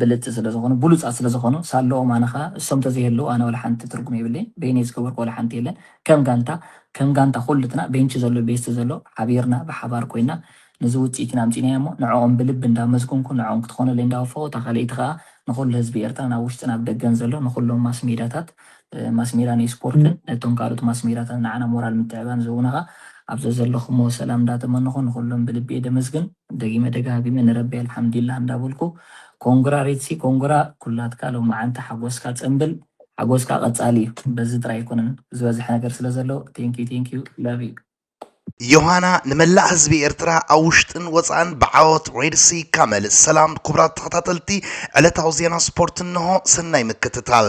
ብልጽቲ ስለ ዝኾኑ ብሉጻት ስለ ዝኾኑ ሳለኦም ኣነ ከኣ እሶም ተዘይህልው ኣነ ወላሓንቲ ትርጉም የብለይን በይነይ ዝገበርኩ ወላሓንቲ የለን ከም ጋንታ ከም ጋንታ ኩሉትና ቤንቺ ዘሎ ቤስቲ ዘሎ ሓቢርና ብሓባር ኮይና ንዚ ውጽኢት ኢና ኣምጺናዮ እሞ ንዕኦም ብልቢ እንዳመስገንኩ ንዕኦም ክትኾነለይ እንዳወፈኹ እታ ካልኣይቲ ከኣ ንኹሉ ህዝቢ ኤርትራን ኣብ ውሽጥን ኣብ ደገን ዘሎ ንኹሎም ማስሜዳታት ማስሜዳ ናይ ስፖርትን ነቶም ካልኦት ማስሜዳታት ንዓና ሞራል ምትዕባን ዝህቡና ከኣ ኣብ ዘዘለኹሞ ሰላም እንዳተመነኹ ንኹሎም ብልቢ እየ ደመስግን። ደጊመ ደጋጊመ ንረቢ ኣልሓምዲላህ እንዳበልኩ ኮንግራ ሪትሲ ኮንግራ ኩላትካ ሎማዓንቲ ሓጎስካ ጽንብል ሓጎስካ ቀጻሊ እዩ በዚ ጥራይ ኣይኮነን ዝበዝሕ ነገር ስለ ዘሎ ቴንኪዩ ቴንኪዩ ላቭ ዩ። ዮሃና ንመላእ ህዝቢ ኤርትራ ኣብ ውሽጥን ወጻእን ብዓወት ሬድሲ ካመል ሰላም ኩቡራት ተኸታተልቲ ዕለታዊ ዜና ስፖርት እንሆ ሰናይ ምክትታል።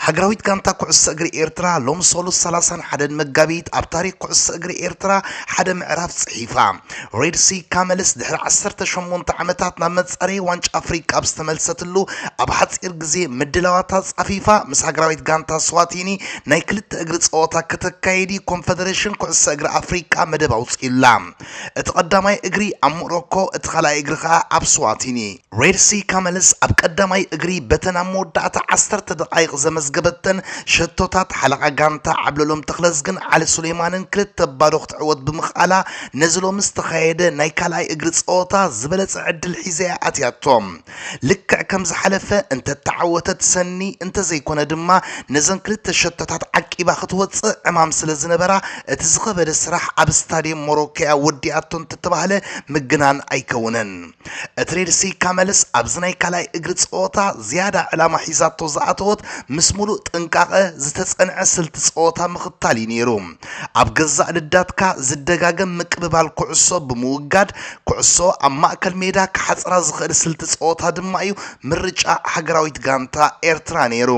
ሃገራዊት ጋንታ ኩዕሶ እግሪ ኤርትራ ሎሚ ሰሉስ ሰላሳን ሓደን መጋቢት ኣብ ታሪኽ ኩዕሶ እግሪ ኤርትራ ሓደ ምዕራፍ ጽሒፋ። ሬድ ሲ ካመልስ ድሕሪ ዓሰርተ ሸሞንተ ዓመታት ናብ መጻረዪ ዋንጫ ኣፍሪቃ ኣብ ዝተመልሰትሉ ኣብ ሓጺር ግዜ ምድላዋታ ኣጻፊፋ ምስ ሃገራዊት ጋንታ ስዋቲኒ ናይ ክልተ እግሪ ጸወታ ከተካይድ'ዩ ኮንፈደረሽን ኩዕሶ እግሪ ኣፍሪቃ መደብ ኣውጺኡላ። እቲ ቀዳማይ እግሪ ኣብ ሞሮኮ እቲ ካልኣይ እግሪ ከኣ ኣብ ስዋቲኒ። ሬድሲ ካመልስ ኣብ ቀዳማይ እግሪ በተን ኣብ መወዳእታ ዓሰርተ ደቓይቕ ዘመዝገበተን ሸቶታት ሓለቓ ጋንታ ዓብለሎም ተኽለዝግን ዓሊ ሱሌማንን ክልተ ባዶ ክትዕወት ብምኽኣላ ነዚ ሎሚ ዝተኻየደ ናይ ካልኣይ እግሪ ፀወታ ዝበለፀ ዕድል ሒዛ እያ ኣትያቶ። ልክዕ ከም ዝሓለፈ እንተተዓወተት ሰኒ እንተዘይኮነ ድማ ነዘን ክልተ ሸቶታት ዓቂባ ክትወፅእ ዕማም ስለዝነበራ እቲ ዝኸበደ ስራሕ ኣብ ስታድየም ሞሮኮ እያ ወዲኣቶ እንተተባህለ ምግናን ኣይከውንን። እቲ ሬድሲ ካመልስ ኣብዚ ናይ ካልኣይ እግሪ ጸወታ ዝያዳ ዕላማ ሒዛቶ ዝኣተወት ምስ ምሉእ ጥንቃቐ ዝተጸንዐ ስልቲ ጸወታ ምኽታል እዩ ነይሩ። ኣብ ገዛእ ልዳትካ ዝደጋገም ምቅብባል ኩዕሶ ብምውጋድ ኩዕሶ ኣብ ማእከል ሜዳ ክሓጽራ ዝኽእል ስልቲ ጸወታ ድማ እዩ ምርጫ ሃገራዊት ጋንታ ኤርትራ ነይሩ።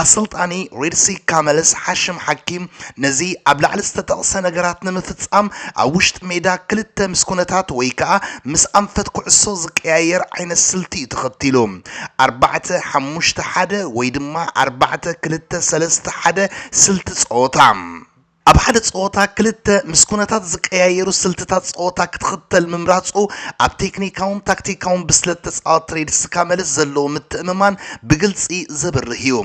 ኣሰልጣኒ ሪድሲ ካመልስ ሓሽም ሓኪም ነዚ ኣብ ላዕሊ ዝተጠቕሰ ነገራት ንምፍጻም ኣብ ውሽጢ ሜዳ ክልተ ምስ ኩነታት ወይ ከኣ ምስ ኣንፈት ኩዕሶ ዝቀያየር ዓይነት ስልቲ እዩ ተኸቲሉ ኣርባዕተ ሓሙሽተ ሓደ ወይ ድማ ኣርባዕተ ክልተ ሰለስተ ሓደ ስልቲ ጸወታ ኣብ ሓደ ጸወታ ክልተ ምስ ኩነታት ዝቀያየሩ ስልትታት ጸወታ ክትኽተል ምምራጹ፣ ኣብ ቴክኒካውን ታክቲካውን ብስለት ተጻወትቲ ሬድ ስካመልስ ዘለዎ ምትእምማን ብግልጺ ዘብርህ እዩ።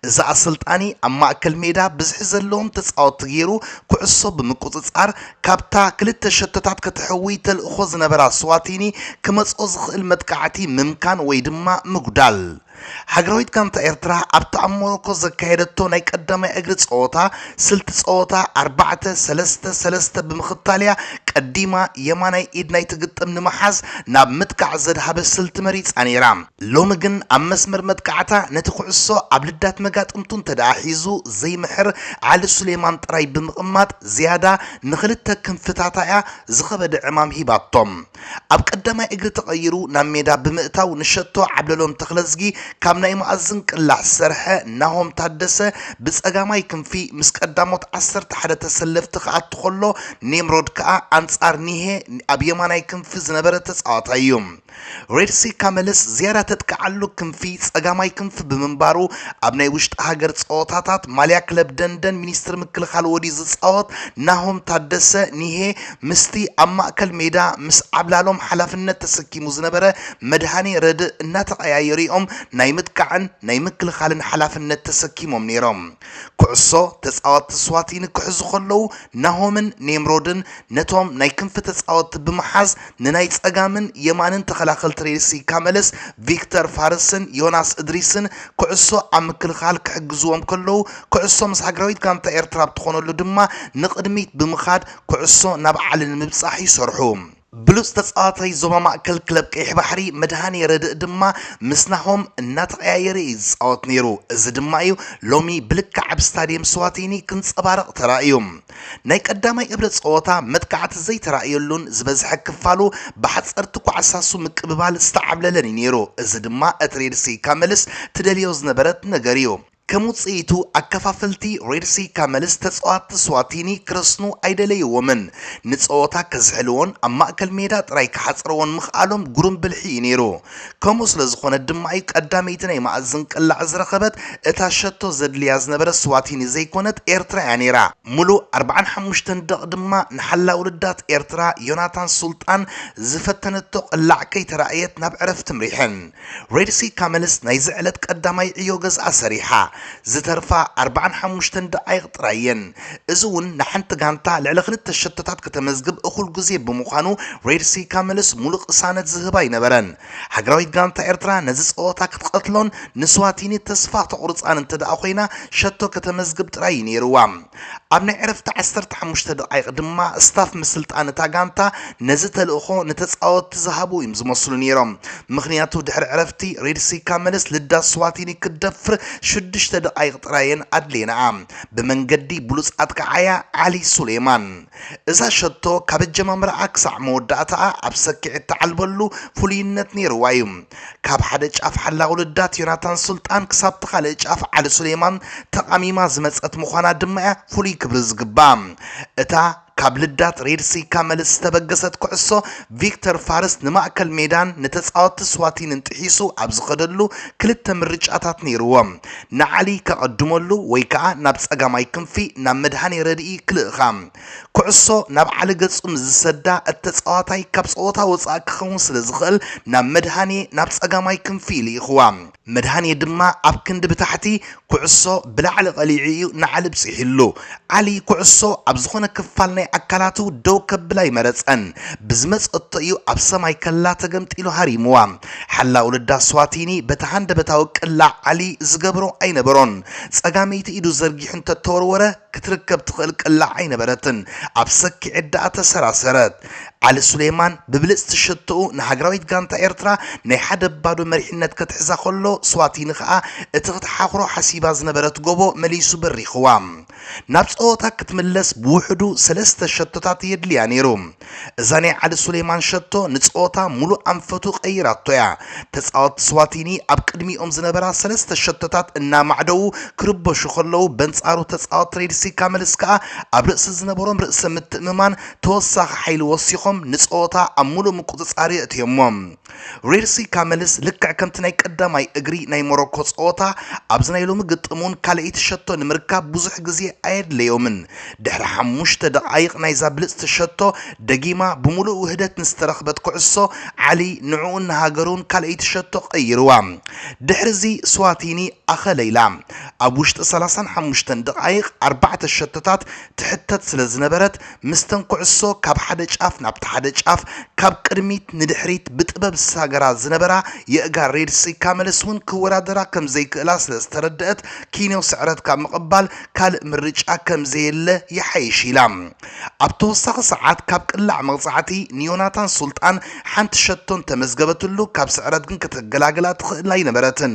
እዚ ኣሰልጣኒ ኣብ ማእከል ሜዳ ብዝሒ ዘለዎም ተጻወትቲ ገይሩ ኩዕሶ ብምቁጽጻር፣ ካብታ ክልተ ሸቶታት ከተሕውይ ተልእኾ ዝነበራ ስዋቲኒ ክመጽኦ ዝኽእል መጥቃዕቲ ምምካን ወይ ድማ ምጉዳል ሃገራዊት ጋንታ ኤርትራ ኣብታ ኣብ ሞሮኮ ዘካየደቶ ናይ ቀዳማይ እግሪ ጸወታ ስልቲ ጸወታ ኣርባዕተ ሰለስተ ሰለስተ ብምኽታል'ያ ቀዲማ የማናይ ኢድ ናይቲ ግጥም ንምሓዝ ናብ ምጥቃዕ ዘድሃበ ስልቲ መሪጻ ነይራ። ሎሚ ግን ኣብ መስመር መጥቃዕታ ነቲ ኩዕሶ ኣብ ልዳት መጋጥምቱ እንተድኣ ሒዙ ዘይምሕር ዓሊ ሱሌማን ጥራይ ብምቕማጥ ዝያዳ ንኽልተ ክንፍታታ'ያ ዝኸበደ ዕማም ሂባቶም። ኣብ ቀዳማይ እግሪ ተቐይሩ ናብ ሜዳ ብምእታው ንሸቶ ዓብለሎም ተኽለዝጊ ካብ ናይ መኣዝን ቅላዕ ዝሰርሐ ናሆም ታደሰ ብፀጋማይ ክንፊ ምስ ቀዳሞት ዓሰርተ ሓደ ተሰለፍቲ ክኣቱ ከሎ ኔምሮድ ከኣ ኣንፃር ኒሄ ኣብ የማናይ ክንፊ ዝነበረ ተፃዋታይ እዩ። ሬድሴካ መለስ ዝያዳ ተጥቅዓሉ ክንፊ ፀጋማይ ክንፊ ብምንባሩ ኣብ ናይ ውሽጢ ሃገር ፀወታታት ማልያ ክለብ ደንደን ሚኒስትሪ ምክልኻል ወድዩ ዝፃወት ናሆም ታደሰ፣ ኒሄ፣ ምስቲ ኣብ ማእከል ሜዳ ምስ ዓብላሎም ሓላፍነት ተሰኪሙ ዝነበረ መድሃኔ ረድእ እናተቐያየሩ እዮም ናይ ምጥቃዕን ናይ ምክልኻልን ሓላፍነት ተሰኪሞም ነይሮም። ኩዕሶ ተጻወትቲ ስዋቲኒ ክሕዙ ከለዉ ናሆምን ኔምሮድን ነቶም ናይ ክንፊ ተጻወትቲ ብምሓዝ ንናይ ጸጋምን የማንን ተኸላኸልቲ ሬድሲ ካመለስ፣ ቪክተር ፋርስን ዮናስ እድሪስን ኩዕሶ ኣብ ምክልኻል ክሕግዝዎም ከለዉ ኩዕሶ ምስ ሃገራዊት ጋንታ ኤርትራ ኣብ ትኾነሉ ድማ ንቕድሚት ብምኻድ ኩዕሶ ናብ ዓሊ ንምብጻሕ ይሰርሑ። ብሉጽ ተጻዋታይ ዞባ ማእከል ክለብ ቀይሕ ባሕሪ መድሃኔ ረድእ ድማ ምስ ናሆም እናተቐያየረ እዩ ዝጻወት ነይሩ። እዚ ድማ እዩ ሎሚ ብልክዕ ኣብ ስታድየም ስዋቲኒ ክንጸባረቕ ተራእዩ። ናይ ቀዳማይ እብረ ጸወታ መጥቃዕቲ ዘይተራእየሉን ዝበዝሐ ክፋሉ ብሓጸርቲ ኳዕሳሱ ምቅብባል ዝተዓብለለን እዩ ነይሩ። እዚ ድማ እቲ ሬድሲ ኢካመልስ ትደልዮ ዝነበረት ነገር እዩ። ከም ውጽኢቱ፣ ኣከፋፈልቲ ሬድ ሲ ካመልስ ተጻወትቲ ስዋቲኒ ክረስኑ ኣይደለይዎምን። ንጸወታ ከዝሕልዎን ኣብ ማእከል ሜዳ ጥራይ ክሓጽርዎን ምኽኣሎም ግሩም ብልሒ እዩ ነይሩ። ከምኡ ስለ ዝኾነ ድማ'ዩ ቀዳመይቲ ናይ መኣዝን ቅላዕ ዝረኸበት፣ እታ ሸቶ ዘድልያ ዝነበረ ስዋቲኒ ዘይኮነት ኤርትራ እያ ነይራ። ምሉእ ኣርብዓን ሓሙሽተን ደቕ ድማ ንሓላዊ ልዳት ኤርትራ ዮናታን ሱልጣን ዝፈተነቶ ቅላዕ ከይተራእየት ናብ ዕረፍቲ ምሪሐን። ሬድሲ ካመልስ ናይዚ ዕለት ቀዳማይ ዕዮ ገዝኣ ሰሪሓ፣ ዝተርፋ ኣርባዓን ሓሙሽተን ደቓይቕ ጥራይ እየን። እዚ እውን ንሓንቲ ጋንታ ልዕሊ ክልተ ሸቶታት ከተመዝግብ እኹል ግዜ ብምዃኑ ሬድሲ ካመልስ ሙሉእ ቅሳነት ዝህባ ኣይነበረን። ሃገራዊት ጋንታ ኤርትራ ነዚ ጸወታ ክትቐትሎን ንስዋቲኒ ተስፋ ክተቑርጻን እንተደኣ ኮይና ሸቶ ከተመዝግብ ጥራይ እዩ ነይሩዋ። ኣብ ናይ ዕረፍቲ ዓሰርተ ሓሙሽተ ደቓይቕ ድማ ስታፍ ምስልጣን እታ ጋንታ ነዚ ተልእኾ ንተጻወትቲ ዝሃቡ እዩም ዝመስሉ ነይሮም ምኽንያቱ ድሕሪ ዕረፍቲ ሬድሲካ መለስ ልዳ ስዋቲኒ ክትደፍር ሽዱሽተ ደቓይቕ ጥራይ እየን ኣድልየናኣ ብመንገዲ ብሉጽ ኣጥቃዓያ ዓሊ ሱሌማን እዛ ሸቶ ካብ ኣጀማምራኣ ክሳዕ መወዳእታኣ ኣብ ሰኪዔት ትዓልበሉ ፍሉይነት ነይርዋ እዩ። ካብ ሓደ ጫፍ ሓላቒ ልዳት ዮናታን ሱልጣን ክሳብ'ቲ ካልእ ጫፍ ዓሊ ሱሌማን ተቓሚማ ዝመጸት ምዃና ድማ'ያ ፍሉይ ክብሪ ዝግብኣ። እታ ካብ ልዳት ሬድሲካ መልስ ዝተበገሰት ኩዕሶ፣ ቪክተር ፋርስ ንማእከል ሜዳን ንተጻወትቲ ስዋቲንን ጥሒሱ ኣብ ዝኸደሉ ክልተ ምርጫታት ነይርዎ። ንዓሊ ከቐድመሉ ወይ ከኣ ናብ ጸጋማይ ክንፊ ናብ መድሃኔ ረድኢ ክልእኻ። ኩዕሶ ናብ ዓሊ ገጹ ምስ ዝሰዳ እቲ ተጻዋታይ ካብ ጸወታ ወጻኢ ክኸውን ስለ ዝኽእል ናብ መድሃኔ ናብ ጸጋማይ ክንፊ ይልእኽዋ። መድሃኔ ድማ ኣብ ክንዲ ብታሕቲ ኩዕሶ ብላዕሊ ቀሊዑ እዩ ንዓሊ ኣብጺሑሉ። ዓሊ ኩዕሶ ኣብ ዝኾነ ክፋል ናይ ኣካላቱ ደው ከብል ኣይመረጸን። ብዝመጸቶ እዩ ኣብ ሰማይ ከላ ተገምጢሉ ሃሪሙዋ። ሓላው ልዳ ስዋቲኒ በቲ ሃንደበታዊ ቅላዕ ዓሊ ዝገብሮ ኣይነበሮን። ጸጋመይቲ ኢዱ ዘርጊሑ እንተተወርወረ ክትርከብ ትኽእል ቅላዕ ኣይነበረትን። ኣብ ሰኪዔት ደኣ ተሰራሰረት። ዓሊ ሱሌማን ብብልጽቲ ሸቶኡ ንሃገራዊት ጋንታ ኤርትራ ናይ ሓደ ባዶ መሪሕነት ከትሕዛ ከሎ ስዋቲኒ ከኣ እቲ ክትሓኹሮ ሓሲባ ዝነበረት ጎቦ መሊሱ በሪኽዋ ናብ ጸወታ ክትምለስ ብውሕዱ ሰለስተ ሸቶታት የድልያ ነይሩ እዛ ናይ ዓሊ ሱሌማን ሸቶ ንጸወታ ሙሉእ ኣንፈቱ ቀይራቶ እያ ተጻወቲ ስዋቲኒ ኣብ ቅድሚኦም ዝነበራ ሰለስተ ሸቶታት እናማዕደዉ ክርበሹ ከለዉ በንጻሩ ተጻወቲ ሬድሲካ መልስ ከኣ ኣብ ርእሲ ዝነበሮም ርእሰ ምትእምማን ተወሳኺ ሓይሊ ወሲኾም ንጸወታ ኣብ ምሉእ ምቁጽጻር የእትዮሞ። ሪርሲ ካመልስ ልክዕ ከምቲ ናይ ቀዳማይ እግሪ ናይ ሞሮኮ ጸወታ ኣብዚ ናይ ሎሚ ግጥም'ውን ካልኣይቲ ሸቶ ንምርካብ ብዙሕ ግዜ ኣየድለዮምን። ድሕሪ ሓሙሽተ ደቓይቕ ናይዛ ብልጽቲ ሸቶ ደጊማ ብምሉእ ውህደት ንዝተረኽበት ኩዕሶ፣ ዓሊ ንዕኡን ንሃገሩን ካልኣይቲ ሸቶ ቀይርዋ። ድሕሪ'ዚ ስዋቲኒ ኣኸለይላ። ኣብ ውሽጢ ሰላሳን ሓሙሽተን ደቓይቕ ኣርባዕተ ሸቶታት ትሕተት ስለ ዝነበረት ምስተን ኩዕሶ ካብ ሓደ ጫፍ ናብቲ ሓደ ጫፍ ካብ ቅድሚት ንድሕሪት ብጥበብ ዝሳገራ ዝነበራ የእጋር ሬድ ስካ መለስ እውን ክወዳደራ ከም ዘይክእላ ስለ ዝተረደእት ኪንዮ ስዕረት ካብ ምቕባል ካልእ ምርጫ ከም ዘየለ ይሓይሽ ኢላ ኣብ ተወሳኺ ሰዓት ካብ ቅላዕ መቕጻዕቲ ንዮናታን ሱልጣን ሓንቲ ሸቶ እንተመዝገበትሉ ካብ ስዕረት ግን ክትገላገላ ትኽእል ኣይነበረትን።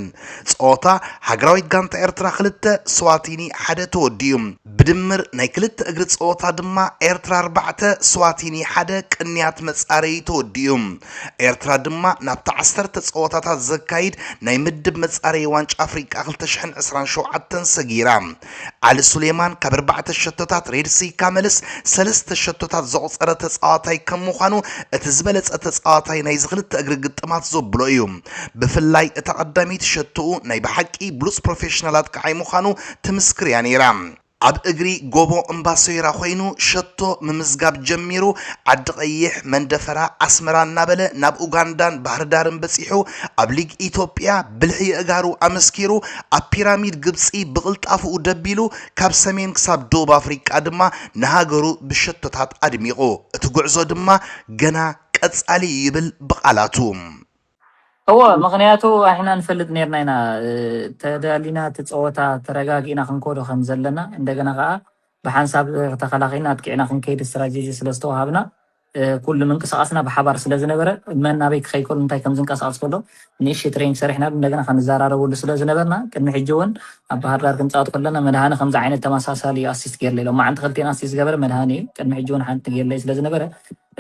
ጸወታ ሃገራዊት ጋንታ ኤርትራ ክልተ፣ ስዋቲኒ ሓደ ተወዲኡ። ብድምር ናይ ክልተ እግሪ ጸወታ ድማ ኤርትራ ኣርባዕተ፣ ስዋቲኒ ሓደ ቅንያት መጻረዪ ተወዲኡ። ኤርትራ ድማ ናብቲ ዓሰርተ ጸወታታት ዘካይድ ናይ ምድብ መጻረዪ ዋንጫ ኣፍሪቃ ክልተ ሽሕን ዕስራን ሸውዓተን ሰጊራ። ዓሊ ሱሌማን ካብ ኣርባዕተ ሸቶታት ሬድ ስይካ መልስ ሰለስተ ሸቶታት ዘቑጸረ ተጻዋታይ ከም ምዃኑ እቲ ዝበለጸ ተጻዋታይ ናይዚ ክልተ እግሪ ግጥማት ዘብሎ እዩ። ብፍላይ እታ ቀዳመይቲ ሸቶኡ ናይ ብሓቂ ብሉጽ ፕሮፌሽናል ኣጥቃዓይ ምዃኑ ትምስክር እያ ነይራ። ኣብ እግሪ ጎቦ እምባ ሶይራ ኮይኑ ሸቶ ምምዝጋብ ጀሚሩ ዓዲቐይሕ፣ መንደፈራ፣ ኣስመራ እናበለ ናብ ኡጋንዳን ባህርዳርን በጺሑ ኣብ ሊግ ኢትዮጵያ ብልሒ የእጋሩ ኣመስኪሩ ኣብ ፒራሚድ ግብጺ ብቕልጣፈኡ ደቢሉ ካብ ሰሜን ክሳብ ደቡብ ኣፍሪቃ ድማ ንሃገሩ ብሸቶታት ኣድሚቑ እቲ ጉዕዞ ድማ ገና ቀጻሊ እዩ ይብል ብቓላቱ። እወ ምክንያቱ ኣሕና ንፈልጥ ነርና ኢና ተዳሊና ትጸወታ ተረጋጊእና ክንኮዶ ከም ዘለና እንደገና ከኣ ብሓንሳብ ተኸላኺልና ኣጥቂዕና ክንከይድ ስትራጀጂ ስለ ዝተዋሃብና ኩሉ ምንቅስቃስና ብሓባር ስለ ዝነበረ መን ናበይ ክኸይ ከሎ እንታይ ከም ዝንቀሳቀስ ከሎ ንእሽተይ ትሬኒንግ ሰሪሕናሉ እንደገና ክንዘራረበሉ ስለ ዝነበርና ቅድሚ ሕጂ እውን ኣብ ባህር ዳር ክንጻወት ከለና መድሃኒ ከምዚ ዓይነት ተመሳሳሊ ኣሲስት ገይርለ ኢሎም መዓንቲ ክልቴን ኣሲስት ዝገበረ መድሃኒ እዩ ቅድሚ ሕጂ እውን ሓንቲ ገይርለይ ስለ ዝነበረ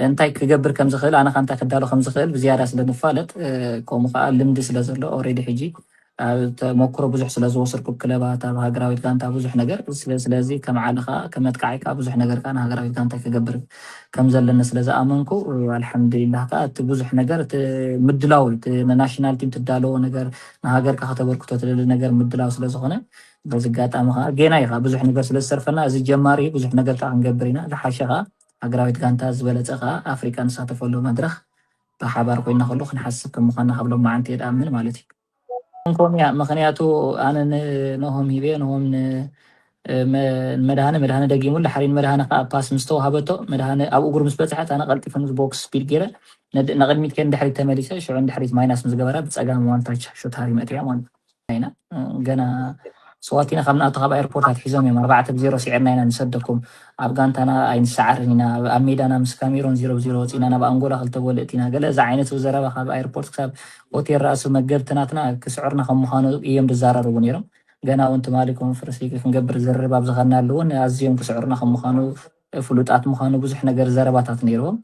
እንታይ ክገብር ከም ዝኽእል ኣነ ከኣ እንታይ ክዳሎ ከም ዝኽእል ብዝያዳ ስለ ንፋለጥ ከምኡ ከኣ ልምዲ ስለ ዘሎ ኦሬዲ ሕጂ ኣብ ተመኩሮ ብዙሕ ስለ ዝወሰድኩ ብ ክለባት ኣብ ሃገራዊት ጋንታ ብዙሕ ነገር ስለ ስለዚ ከም ዓሊ ከኣ ከም መጥቃዓይ ከኣ ብዙሕ ነገር ከኣ ንሃገራዊት ጋንታይ ክገብር ከም ዘለኒ ስለ ዝኣመንኩ ኣልሓምዱሊላህ ከኣ እቲ ብዙሕ ነገር እቲ ምድላው እዩ እቲ ንናሽናል ቲም ትዳለዎ ነገር ንሃገርካ ከተበርክቶ ትደሊ ነገር ምድላው ስለ ዝኾነ በዚ ኣጋጣሚ ከኣ ጌና እዩ ከኣ ብዙሕ ነገር ስለ ዝተርፈና እዚ ጀማሪ እዩ ብዙሕ ነገር ከኣ ክንገብር ኢና ዝሓሸ ከኣ ሃገራዊት ጋንታ ዝበለጸ ከኣ ኣፍሪቃ ንሳተፈሉ መድረኽ ብሓባር ኮይንና ከሉ ክንሓስብ ከም ምዃንና ካብ ሎማዓንቲ እየ ድኣምን ማለት እዩ። ከምኡ ኮን እያ ምኽንያቱ ኣነ ን ኖሆም ሂበ ኖሆም ን መድሃነ መድሃነ ደጊሙሉ ድሓር ንመድሃነ ከኣ ፓስ ምስ ተዋሃበቶ መድሃነ ኣብ እግሩ ምስ በጽሐት ኣነ ቀልጢፈ ምስ ቦክስ ስፒድ ጌረ ንቅድሚት ከይደ ንድሕሪት ተመሊሰ ሽዑ ንድሕሪት ማይናስ ምስ ገበራ ብጸጋም ዋን ታች ሹት ሃሪመት እያ ማለት እዩ። ኢና ገና ስዋት ኢና ካብ ንኣቱ ካብ ኣየርፖርት ኣትሒዞም እዮም ኣርባዕተ ብዜሮ ስዒርና ኢና ንሰደኩም ኣብ ጋንታና ኣይንሰዓርን ኢና ኣብ ሜዳና ምስ ካሜሮን ዜሮ ብዜሮ ወፂእና ናብ ኣንጎላ ክልተ ጎል እእቲና ገለ እዚ ዓይነት ዘረባ ካብ ኣየርፖርት ክሳብ ሆቴል ራእሱ መገብቲ ናትና ክስዕርና ከም ምዃኑ እዮም ዝዘራረቡ ነይሮም ገና እውን ትማሊ ኮንፈረንስ ሊግ ክንገብር ዝርርብ ኣብ ዝኸድናሉ እውን ኣዝዮም ክስዕሩና ከም ምዃኑ ፍሉጣት ምዃኑ ብዙሕ ነገር ዘረባታት ነይርዎም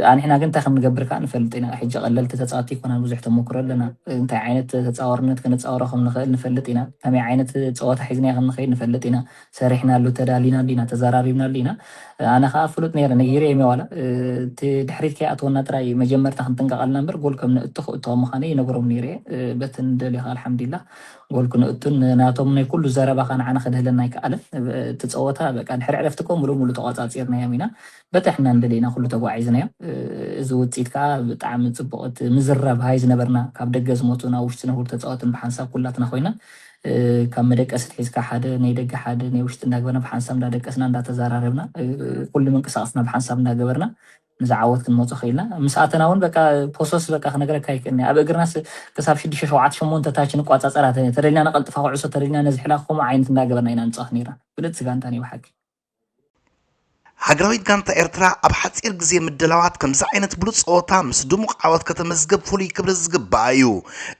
ኣንሕና ግን እንታይ ከም ንገብር ከኣ ንፈልጥ ኢና። ሕጂ ቀለልቲ ተጻወቲ ኣይኮናን ብዙሕ ተሞክሮ ኣለና። እንታይ ዓይነት ተጻዋርነት ክንጻወሮ ከም ንኽእል ንፈልጥ ኢና። ከመይ ዓይነት ጸወታ ሒዝናዮ ከም ንኸይድ ንፈልጥ ኢና። ሰሪሕናሉ ተዳሊናሉ ኢና ተዛራሪብናሉ ኢና። ኣነ ከኣ ፍሉጥ ነይረ ነጊረዮም'የ ዋላ እቲ ድሕሪት ከይኣትወና ጥራይ መጀመርታ ክንጥንቀቐልና እምበር ጎል ከም ነእቱ ክእቱዋ ምዃነይ ይነግሮም ነይረ'የ። በቲ ንደልዮ ከኣ ኣልሓምዲላህ ጎል ክንእቱን ንናቶም ናይ ኩሉ ዘረባ ከኣ ንዓና ከድህለና ኣይከኣለን። እቲ ጸወታ በቃ ድሕሪ ዕረፍቲ እኮ ምሉእ ምሉእ ተቖጻጺርናዮም ኢና። በጺሕና ንደሊ ኢና ኩሉ ተጓዒዝናዮ እዚ ውጺት ከኣ ብጣዕሚ ጽቡቅ እቲ ምዝራብ ሃይ ዝነበርና ካብ ደገ ዝመጹን ኣብ ውሽጢ ዝነብሩ ተጻወትን ብሓንሳብ ኩላትና ኮይና ካብ መደቀሲት ሒዝካ ሓደ ናይ ደገ ሓደ ናይ ውሽጢ እንዳግበርና ብሓንሳብ እንዳደቀስና እንዳተዘራረብና ኩሉ ምንቅሳቅስና ብሓንሳብ እንዳገበርና ንዚ ዓወት ክንመጾ ክኢልና ምስ ኣተና እውን በቃ ፖሶስ በቃ ክነግረካ ኣይክእልኒ ኣብ እግርናስ ክሳብ ሽዱሽተ ሸውዓተ ሸሞንተ ታች ንቋጻጸራ ተደሊና ነቀልጥፋ ኩዕሶ ተደሊና ነዝሕላ ከምኡ ዓይነት እንዳገበርና ኢና ንጻወት ነርና ብልጽቲ ጋንታ ነይ ብሓቂ ሃገራዊት ጋንታ ኤርትራ ኣብ ሓጺር ግዜ ምድላዋት ከምዚ ዓይነት ብሉጽ ጸወታ ምስ ድሙቕ ዓወት ከተመዝግብ ፍሉይ ክብሪ ዝግብኣ እዩ።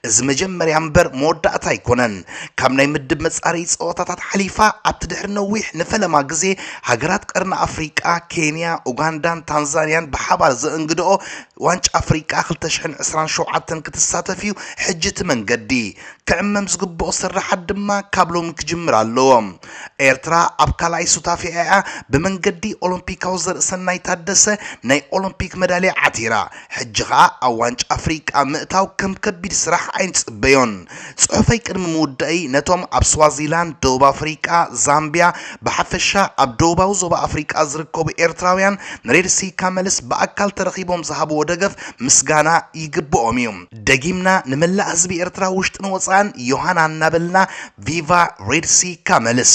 እዚ መጀመርያ እምበር መወዳእታ ኣይኮነን። ካብ ናይ ምድብ መጻረዪ ጸወታታት ሓሊፋ ኣብቲ ድሕሪ ነዊሕ ንፈለማ ግዜ ሃገራት ቀርኒ ኣፍሪቃ ኬንያ፣ ኡጋንዳን ታንዛንያን ብሓባር ዘእንግድኦ ዋንጫ ኣፍሪቃ ክልተ ሽሕን ዕስራን ሸውዓተን ክትሳተፍ እዩ። ሕጂ እቲ መንገዲ። ክዕመም ዝግብኦ ስርሓት ድማ ካብ ሎሚ ክጅምር ኣለዎ። ኤርትራ ኣብ ካልኣይ ሱታፌኣ'ያ ብመንገዲ ኦሎምፒካዊ ዘርእሰናይ ታደሰ ናይ ኦሎምፒክ መዳልያ ዓቲራ። ሕጂ ከኣ ኣብ ዋንጫ ኣፍሪቃ ምእታው ከም ከቢድ ስራሕ ኣይንጽበዮን። ጽሑፈይ ቅድሚ ምውዳእይ ነቶም ኣብ ስዋዚላንድ፣ ደቡብ ኣፍሪቃ፣ ዛምብያ ብሓፈሻ ኣብ ደቡባዊ ዞባ ኣፍሪቃ ዝርከቡ ኤርትራውያን ንሬድሲካ መልስ ብኣካል ተረኺቦም ዝሃብዎ ደገፍ ምስጋና ይግብኦም'ዩ። ደጊምና ንመላእ ህዝቢ ኤርትራ ውሽጥን ወጻእን ዮሃና እናበልና ቪቫ ሬድ ሲ ካመልስ።